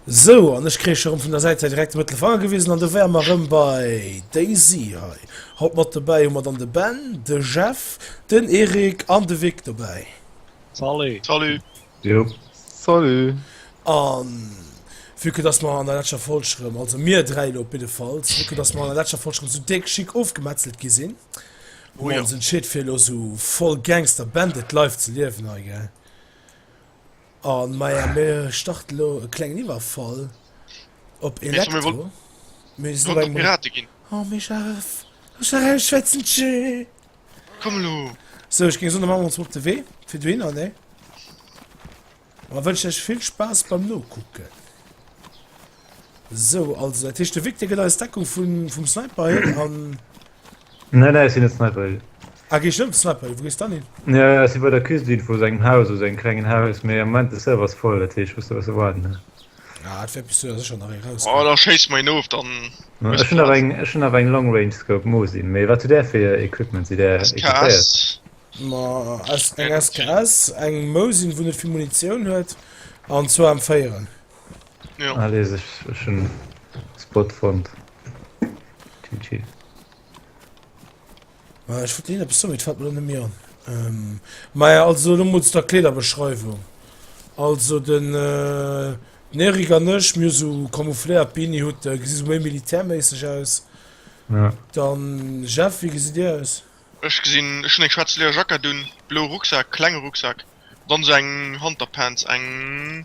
Sou, an ech kréich erëm vun der Säit hei direkt de Mëttelfanger gewisen, an do wäre mer erëm bei Daisy hei. Haut mat dobäi hu mer dann de Ben, de Jeff, den Eric an de Vic dobäi. Salut. Salut. Jo. Salut. An vu que dass mer an der leschter Folg erëm, also mir dräi elo op jidde Fall, vu que dass mer an der leschter Folg erëm esou déck schick ofgemetzelt gi sinn, hu mer ons entscheet fir elo esou voll Gangster Bandit Life ze liewen hei, gell? Oh maja, mir starten lo e klengen Iwwerfall op Elektro. Mir si beim Pirate ginn. Oh mir scharf. Ech war ein Schwätzelche. Komm lo. So, ich ging so machen uns op de Wee fir du hinner ne. Wa wënsch ech vill Spaß beim Nokucken. Sou, also dat heescht de Vic, dee gëtt eis Deckung vun, vum Sniper hin an. Nein, nein, ech sinn net Sniper Hill. Ah, gees du net op Sniper Hill? Wou gees dann hin? Ja, ja, ech si bei der Cuisine vu sengem Haus, also engem klengen Haus, mee am Moment de Server ass voll, dat heescht ech muss do besse waarden, ne? Ah, et wäert bis souer sécher nach ee rauskommen. Oh, da schéiss mer een of, dann. Ech hunn nach eng, ech hunn awer eng Long Range Scope, Mosin. Mee wat hutt där fir Equipment? Sidd där equipéiert? SKS. Ma, S, eng SKS, eng Mosin, wou net vill Munitioun huet, an zwou M4'en. Allez, ech hun e Spot fonnt. GG. Maja ech wollt leen eppes soen mee et fällt mir lo net méi an ehm maja also lo mol zu der Kleederbeschreiwung also den den Eric an ech mir hu sou camoufléiert Beanie Hutte gesi sou méi militärméisseg aus Ja. dann Jeff wéi gesitt dir aus? Ech gesinn ech hun eng schwaarz Leerjackett un, blou Rucksak, klenge Rucksak, dann sou eng Hanterpants, eng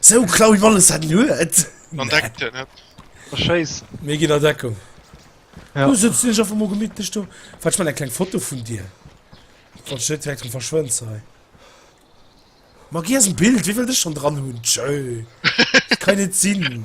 So klau wie alles hat luet mé gi der Deckung ja. mo gemidlech do wat man en kleng Foto vun dir Von Schëtwerk zum verschwënnt sei Mag gi en Bild wie wëll dech schon dran hunn Tschö kann net sinn.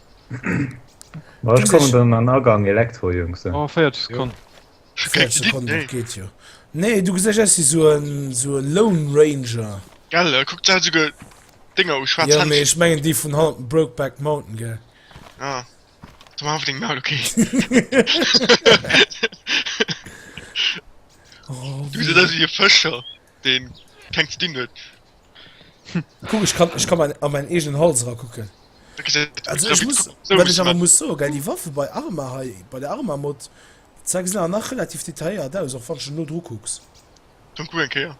Ech kommen dann an Agang Elektro Jungs. Oh, 40 Sekunden. Nee du gesech si so so Lone Ranger Gell äh, guckt se ge Dinger u schwa ja, méch mengen Di vun haut Brokeback Mountain ge ah. Du ma deng mal okay oh, Du se dat fëscher. deen keng ze dinn huet. Kuck, ech kann, ech kann mein, an meinen eegenen Hals rakucken. Da gesi Also ich muss, so wat ech awer muss soen, gell, déi Waffe bei Arma hei, bei der Arma-Mod, zwar gesinn awer nach relativ detailléiert aus, och wann du se no dru kucks. Komm, kuck eng Kéier.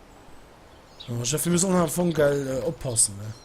Jo, Jeff, mir sollen am Fong, gell, oppassen, ne?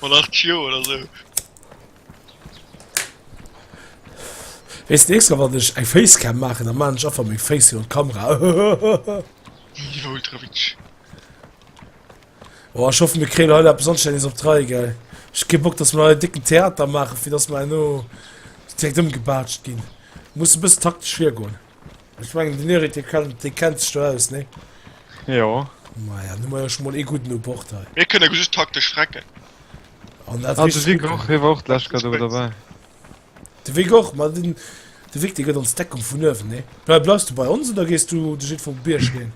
Mat 8 Joer oder sou. Wees nächst Mal wann ech eng Facecam machen, dann machen ech einfach meng Face hier an Kamera. Niveau Ultrawitsch. Oh, ich hoffe mir kriegen heute etwas anständiges auf drei, gell. Ich gebe Bock, dass wir einen dicken Theater machen, für das wir nur direkt umgebatscht gehen. Muss ein bisschen taktisch schwer gehen. Ech mengen den Eric de kann, de kennt sech do aus, nee? Jo. Maja, nu mei ech mol ee gudden op Bord hei. Mir kënne just taktesch frecken. An dat ah, de Vic och, hie war och d'lescht Kado dabei. De Vic och, ma den, de Vic, de gëtt ons Deckung vun uewen, nee? Bleif, bleifs du bei ons oder gees du de jiddwer op Bierg ginn?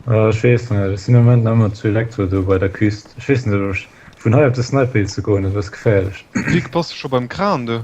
Äh, ech weess net, et sinn am Moment nach ëmmer zu Elektro do bei der Küst. Ech weess net, ob ech vun hei op de Sniper Hill ze goen, dat ass e bësse geféierlech. Vic, bass du scho beim Kran do?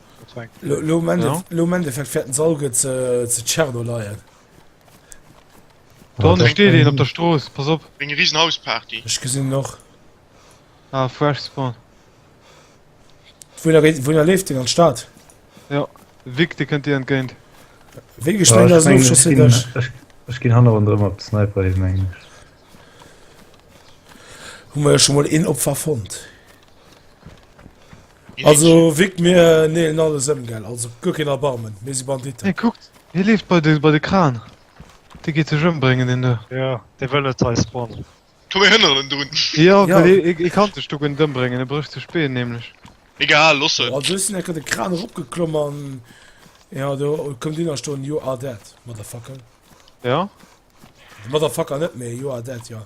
Lo am Endeffekt fährt den Salge zu, zu Tscherno leien. Dann steht den op der Stroos, pass op. Eng riesen Hausparty. Ich gesinn noch. Ah, fresh spawn. Wohin, wohin er lebt den an Start? Ja, Vic, de könnt dir entgeint. Vic, ich mein, das ist schon durch. Ich gehen han run drum op Sniper hin, mein ich. Hun wir ja schon mal een Opfer fond. Also wik mir neelen alles ëm gell, also guer keen Erbarmen, mir si Banditen. Hie kuckt, hie leeft bei de bei de Kran, dee geet sech ëmbréngen deen do. Jo, dee wëll net hei spawnen. Komm mir hënneren en drun. Jo, well hie kann sech do guer net ëmbréngen, e brécht sech d'Been nämlech. Egal, looss en. Also ech sinn enker de Kran eropgeklomm an jo do koum deen a stoen, you are dead, Motherfucker. Jo? Motherfucker net, mee you are dead, jo.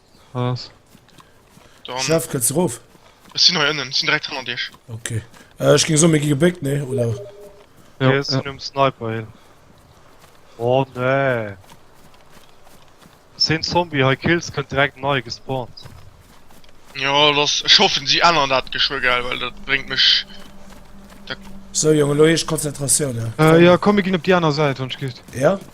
Chef, könnt ze rof? Ech sinn hei ënnen, sinn direkt hanner Dir. Okay. Äh, ech ging so, mir gi gebéckt, nee, oder? Ja, okay, ja. um Sniper hin. Oh nee. Sinn Zombie hei Kills könnt direkt nei gespawnt. Ja, lass, ech hoffen, sie ännern dat geschwö, gell, weil dat bringt mech... So, Junge, lo heescht Konzentratioun, ja. Äh, ja, komm, mir ginn op déi aner Säit, wann et gitt. Ja?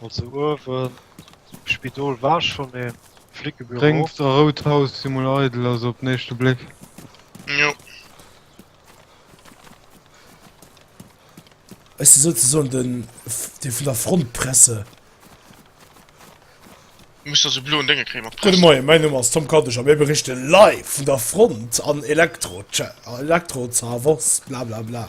Also uewen um Spidol war schon een Flickebüro. Gréngt a rout Haus si mol eidel, also op den éischte Bléck. Jo. Ech si souzesoen den, dee vun der Frontpresse. Muss da sou bloen Dénge kréie mat Gudde Press. Moien, mäin Numm ass Tom Kadesch a mir berichte live vun der Front an Elektro, Cha, Elektro Zaragoz, blablabla.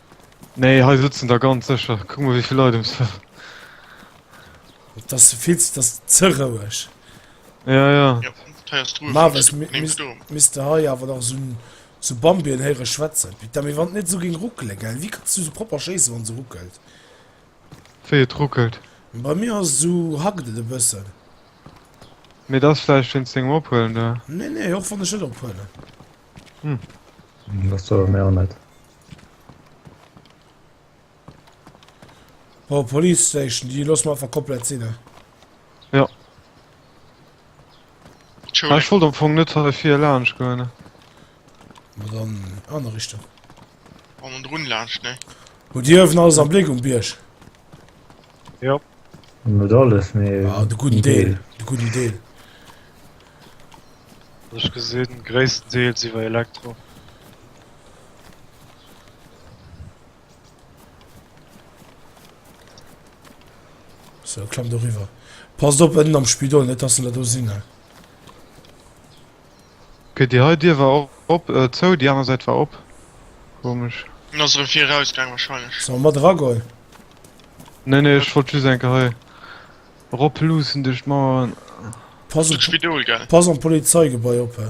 Nee, hei sëtzen der ganz sécher. Kuck mol, wéi vill Leit ums. Dat ass vill ze, dat ass ze roueg. Ja, ja. Ja, heiers Ruhe. Marvis, mi, mi, misst du hei awer nach so, so Bambien héiere schwätzen. Putain, mir wann net so géng ruckele, gell? Wie kannst du so proper schéisse wann se ruckelt? Wéi et ruckelt? Bei mir ass so hackt et e bëssen. Mee dat ass vläicht wéinst dengem Ophuelen, da. Nee, nee, och wann ech net ophuelen. Hm. Hm, dat soe mer net. Oh, Police Station, die los mal einfach komplett sinn. Ne? Ja. Ah, ich wollte am Fong net fir lasch goen. dann an der Richtung. An den Drun lasch ne. Wo Dir wen alles am Blik um Bierg. Ja. Net alles mé ah, de guten Deel de guten Deel. Ech gesinn gréissten Deel siwer Elektro. So, klamm do riwer. Passt op ënnen am Spidol, net dass en der do sinn, he. Okay, déi hei Dier war och op, äh, zou, déi aner Säit war op. Komesch. En ass erëm vir eraus gaang wahrscheinlech. Soll mer mat era goen? Nee, nee, ech wollt just eng Kéier hei eropluussen duerch d'Mauer. Pass op, Spidol, gell? pass op d'Polizeigebai op, he.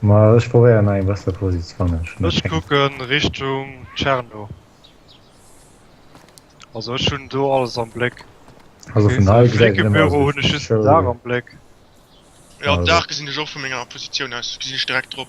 Ma ech probéieren nach eng besser Posi ze fannen. Ech kucken Richtung Tscherno. Also ech hunn do alles am Bléck. Also vun hei gesäit et nëmme aus wéi Show. Den Daach am Bléck. Jo den Daach gesinn ech och vu menger Positioun aus, gesinn ech direkt drop.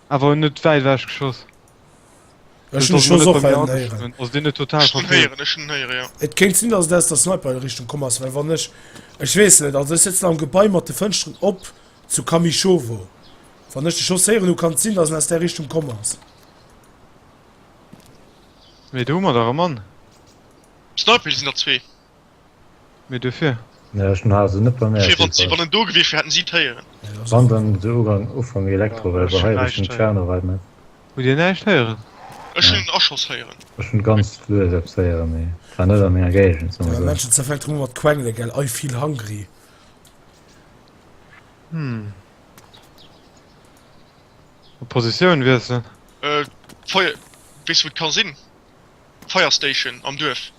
Awer en huet wäit ewech geschoss. Ech hun de Schoss och hei unten héieren. Also deen huet total verfehlt. Ech hun héieren, ech hun héieren, jo. Et kéint sin dass et aus der Sniper Richtung komm ass, well wann ech, ech weess net, also ech sëtzen am Gebai mat de Fënschteren op zu Kamyschowo, wann ech de Schoss héieren hu kann et sin dass en aus där Richtung komm ass. Mee do hu mer dach e Mann. Sniper, do sin der zwee. Mee duerfir. Ja, ech hun haat se net bemerkt. Schee, wann wann en do gewiescht wier hätten si d'héieren. Wann dann de Ugang ufang Elektro well bei hei rich den Tscherno reit net. Hutt dir näischt héieren? Ech hunn en Aschoss héieren. Ech hunn ganz lues eppes héieren, mee et war net a menger Géigend, soe mer esou. Männchen zerfällt rëm mat quengele, gell? I feel hungry. Hm. Op Positioun wiesselen. D'Feier. Weess wou et ka sinn? Fire Station am Duerf.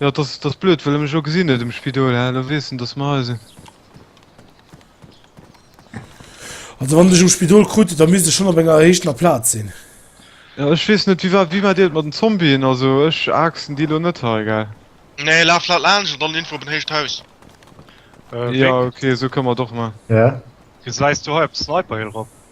Jo dass dass blöd well mech o gesinn huet um Spidol hä lo wees en dass mer hei sinn. Also wann dech um Spidol krut huet da misst e schon op enger erhéichtener Platz sinn. Ja ech wees net wéi war wéi maat dir et mat den Zombien also ech aaxen déi lo net hei gell. Nee laaf laat laanscht an dann info op en héicht Haus. Jo ok esou kënnen mer et och maan. Gesäis du hei op d'Sniperhill rop?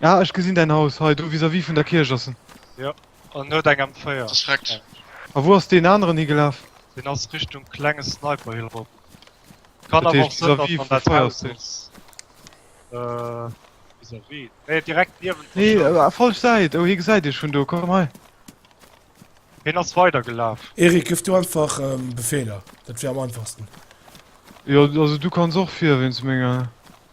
Ah, ech gesinn däin Haus. Hei, do vis-à-vis vun der Kierch ass en. Jo, an no der M4. Dat ass vreckt. A wou ass deen aneren higelaf? Deen ass Richtung Klenge Sniperhill erop. Kann awer och sinn, datt en an dat Haus ass. Vis-à-vis? Nee, direkt niewent der Schoul. Nee, falsch Säit. Oh, hie gesäit iech vun do. Komm hei. Hien ass weidergelaf. Erik, gëff du einfach Befeeler. Dat wier am einfachsten. Jo, also du kanns och vir wéinst menger.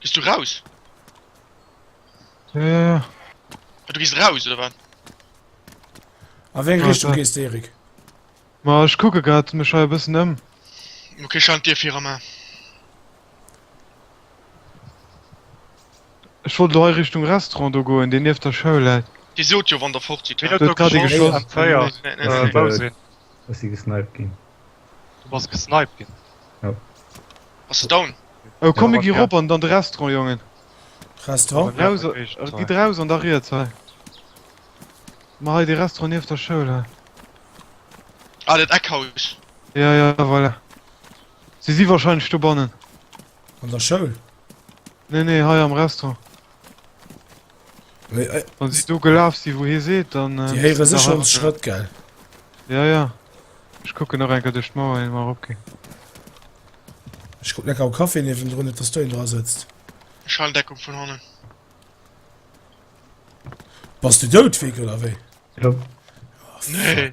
Gees du raus? Äh. Ah, du gees raus, oder wat? A wéi eng Richtung gees de, Erik? Ma ech kucke grad mech hei e bëssen ëm. Okay, schalt d'Dier fir, Romain. Ech wollt elo hei Richtung Restaurant do goen, deen nieft der Schoul läit. Dir sot jo, wann der fort sidd, hä? Wien huet do geschoss? Am Feier. Wou sinn? Ech si gesniped ginn. Du bass gesniped gin. Jo. Bass du down? Oh komm mir gi rop an de Restaurant Jongen. Restaurant? Gi draus an da riets hei. Mar hei de Restaurant nieft der Schoul hei. Ah dat Eckhaus. Ja ja voilà. Si si wahrscheinlech dobannen. An der Schoul? Nee nee hei am Restaurant. Wann sie do gelaf si wou hie seet dann Di héiere sech ons Schrëtt gell? Ja ja Ech kucken nach enker duerch d'Mauer hien mer eropginn. Ech kucken enker am Café niewendrun net dass do een dra sëtzt. Ech halen Deckung vun hannen. Bass de dout Vic oder wéi? Jo. Oh fuck. Nee.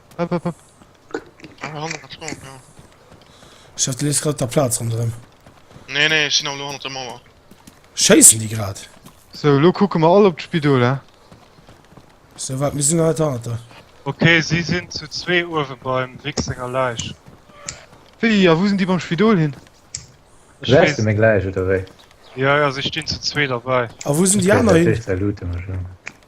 Ech dacht du leefs grad op der Plaz ronderëm. Nee, nee, ech sinn awer elo hannert der Mauer. Schéissen déi grad? Sou, elo kucke mer all op d'Spidol, he? Sou, waart, mir sinn nach net hannert der. Ok, si sinn zu zwee uewe beim Vic senger Läich. Wéi, a wou sinn déi beim Spidol hin? Ech weess. Gesäis de meng Läich, oder wéi? Jo, jo, si stinn zu zwee derbäi. A wou sinn déi aner hin?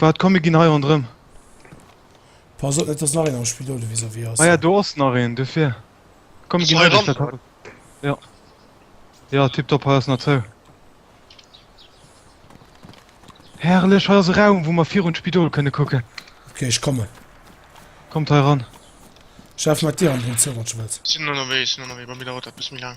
Waat, komm mir gin hei rondrem. Pass op net dass nach een am Spidol do vis-à-vis ass. Ah ja do ass nach een, dofir. Komm mir gin hei ran. Jo jo tiptop hei ass nach zou. Herrlech, hei ass e Raum wou mer virun d'Spidol kënne kucken. Ok ech kommen. Kommt hei ran. Ech laf mat dir an den Zug wann s du wëlls. Sin ënnerwee, sin ënnerwee, bei mir dauert dat bis méi laang.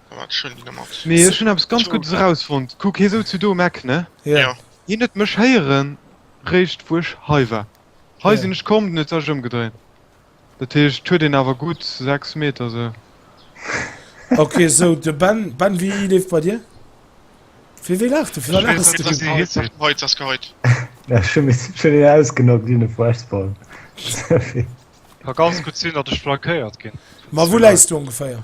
Mee ech hunn eppes ganz Guddes erausfonnt. Kuck, hie souz jo do um Eck, ne? Jo. Hien huet mech héieren, réischt wou ech hei war. Hei sinn ech komm, den huet sech ëmgedréint. Dat heescht, huet een awer gutt 6 Meter sou. Ok, sou de Ben. Ben, wéi leeft bei dir? Fir wéi laachs du? Fir wat laachs du? Geheit ass Geheit. Ech hunn een ausgenockt wéi e Fuesball. Ka ganz gutt sinn, datt ech flankéiert ginn. Ma wou läis du ongeféier?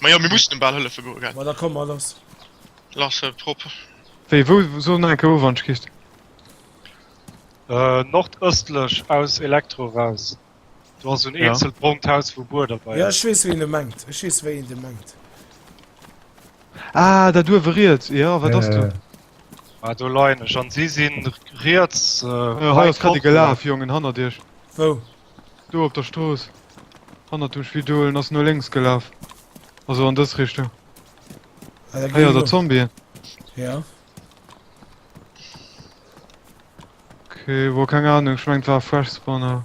Majo mir mussen em bal hëllefe goe gell. Ma da komm mal lass. Lass e prop. Wéi wou soll nach enke Orange Kist? Äh nordëstlech aus Elektro raus. Do ass un eenzel brongt Haus wou Buer derbei ass. Ja ech wees ween e mengt. Ech wees wéi een de mengt. Ah dat uewe riets jo wat ass do? Ah do leien ech an si sinn riets. Hei ass grad ee gelaf Jongen hannert iech. Wou? Do op der Strooss hannert dem Spidol, en ass no lénks gelaf, also an dës Richtung. Ah, da Héiert der Zombien? Ja. Okay, wo keng Ahnung, ich mein war Fresh Spawner.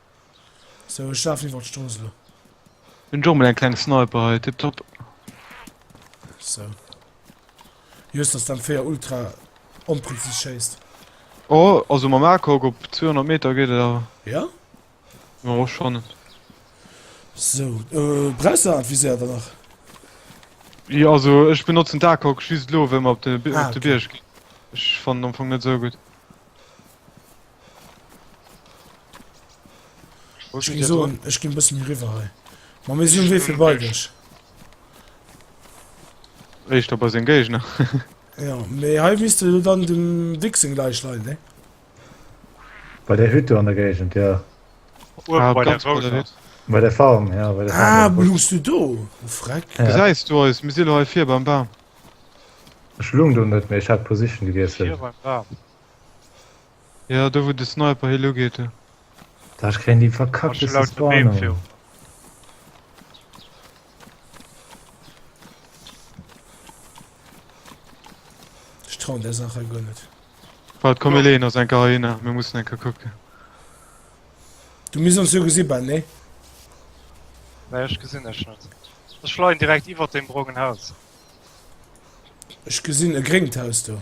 So, ech lafen iwwert d'Strooss elo. Hun jo mol eng kleng Sniper hei, tip top. So. Just dass d'M véier ultra onpräzis schéisst. Oh, also mam ACOG op 200 Meter geet et awer. Ja? Ja, och schon. So, äh, brauchst du dat Visier dann nach? Ja, also ech benotzen d'ACOG just lo, wéi mer op de Bi- Ah, op de okay. Bierg ginn. Ech fannen am Fong net sou gutt. Wo steet so, drop? Ech gin bësse méi riwwer hei. Ma mir si um Wee fir bei dech. Éischter bei seng Géigner. Ja, mee hei misst de dann dem Dick seng Läich leien, ne? Bei der Hütt do an der Géigend, jo. Uewe bei der Rouder Hütt. Bei der Farm, jo. Bei der Farm. Ah, lugs du do, du Freck. Gesäis du eis? Mir si lo hei vir beim Bam. Ech lung do net méi, ech hat d'Position gewiesselt. Vir beim Bam. Ja, do wou de Sniper hi lo geet. Da ech kréien déi verkackte Spawn. Ech trau der Sache guer net. Wat kom e leen ass eng Karina, mir mussssen enke kucken. Du miss ons jo gesi ben, nee? Nee, ech gesinn ech net. Ech schleien direkt iwwer dem brongen Haus. Ech gesinn e gréngt Haus do.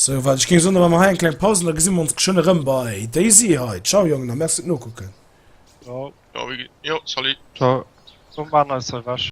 Sou wat ech géing soen, da maache mer hei eng kleng Paus an da gesi mer ons geschwënn erëm bei DayZ hei. Ciao Jongen a merci fir d'Nokucken. Ciao. Ciao Iggy. Jo, salut. Ciao. Komm, maan eis hei wech.